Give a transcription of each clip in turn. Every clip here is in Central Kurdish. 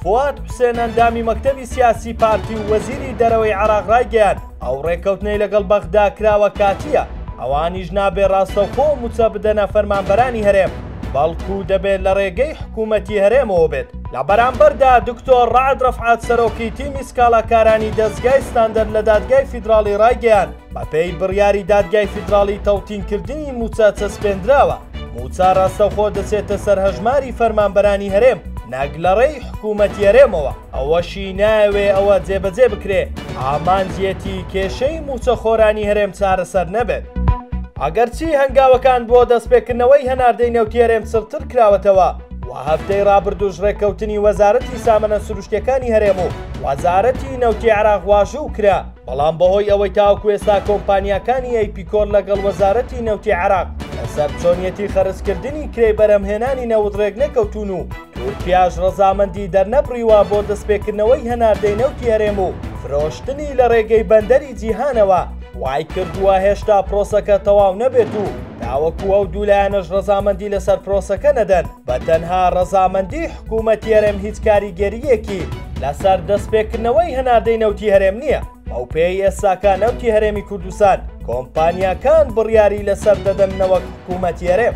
فواد حوسێن ئەندامی مەکتەبی سیاسی پارتی و وەزیری دەرەوەی عێراق رایگەیاند، ئەو رێککەوتنەی لەگەڵ بەغدا کراوە کاتییە، ئەوانیش نابێ راستەوخۆ مووچە بدەنە فەرمانبەرانی هەرێم، بەڵکو دەبێ لە رێگەی حکوومەتی هەرێمەوە بێت. لە بەرامبەردا دکتۆر رەعد رەفعەت سەرۆکی تیمی سکاڵاکارانی دەزگای ستاندەر لە دادگای فیدراڵی رایگەیاند، بەپێی بڕیاری دادگای فیدراڵی تەوتینکردنی مووچە چەسپێندراوە، مووچە ڕاستەوخۆ دەچێتە سەر هەژماری فەرمانبەرانی هەرێم نەک لە ڕێی حکوومەتی هەرێمەوە، ئەوەشی نایەوێ ئەوە جێبەجێ بکرێ، ئامانجیەتی کێشەی مووچەخۆرانی هەرێم چارەسەر نەبێت. ئەگەرچی هەنگاوەکان بۆ دەستپێکردنەوەی هەناردەی نەوتی هەرێم چڕتر کراوەتەوە و هەفتەی ڕابردووش ڕێککەوتنی وەزارەتی سامەنە سروشتییەکانی هەرێم و وەزارەتی نەوتی عێراق واژوو کرا، بەڵام بەهۆی ئەوەی تاوەکو ئێستا کۆمپانیاکانی ئەیپیکۆر لەگەڵ وەزارەتی نەوتی عێراق لەسەر چۆنیەتی خەرجکردنی کرێی بەرهەمهێنانی نەوت ڕێکنەکەوتوون و تورکیاش ڕەزامەندی دەرنەبڕیوە بۆ دەستپێکردنەوەی هەناردەی نەوتی هەرێم و فرۆشتنی لە ڕێگەی بەندەری جیهانەوە وای کردووە هێشتا پرۆسەکە تەواو نەبێت و تاوەکو ئەو دوو لایەنەش ڕەزامەندی لەسەر پرۆسەکە نەدەن. بە تەنها ڕەزامەندی حکوومەتی هەرێم هیچ کاریگەرییەکی لەسەر دەستپێکردنەوەی هەناردەی نەوتی هەرێم نییە، بەوپێیەی ئێستاکە نەوتی هەرێمی کوردستان کۆمپانیاکان بڕیاری لەسەر دەدەن نەوەک حکوومەتی هەرێم.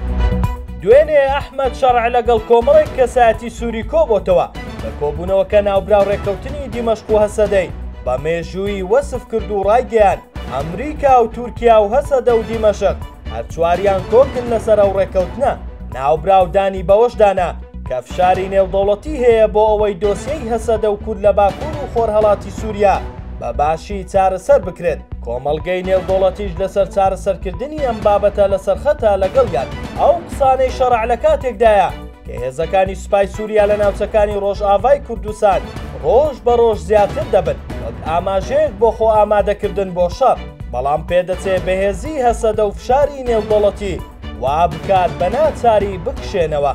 دوێنێ ئەحمەد شەرع لەگەڵ کۆمەڵێک کەسایەتی سووری کۆبۆتەوە، لە کۆبوونەوەکە ناوبراو ڕێککەوتنی دیمەشق و هەسەدەی بە مێژوویی وەسف کرد و ڕایگەیاند، ئەمریکا و تورکیا و هەسەدە و دیمەشق هەر چواریان کۆکن لەسەر ئەو ڕێکەوتنە ناوبراو دانی بەوەشدانا کە فشاری نێودەوڵەتی هەیە بۆ ئەوەی دۆسیەی هەسەدە و کورد لە باکوور و خۆرهەڵاتی سووریا بە باشی چارەسەر بکرێت کۆمەڵگەی نێودۆڵەتیش لەسەر چارەسەرکردنی ئەم بابەتە لەسەرخەتە لەگەڵ یان ئەو قسانەی شەڕع لە کاتێکدایە کە هێزەکانی سوپای سووریا لە ناوچەکانی ڕۆژئاڤای کوردستان ڕۆژ بە ڕۆژ زیاتر دەبن وەک ئاماژەیەک بۆ خۆ ئامادەکردن بۆ شەڕ، بەڵام پێدەچێ بەهێزیی هەسەدە و فشاری نێودەوڵەتی وا بکات بە ناچاری بکشێنەوە.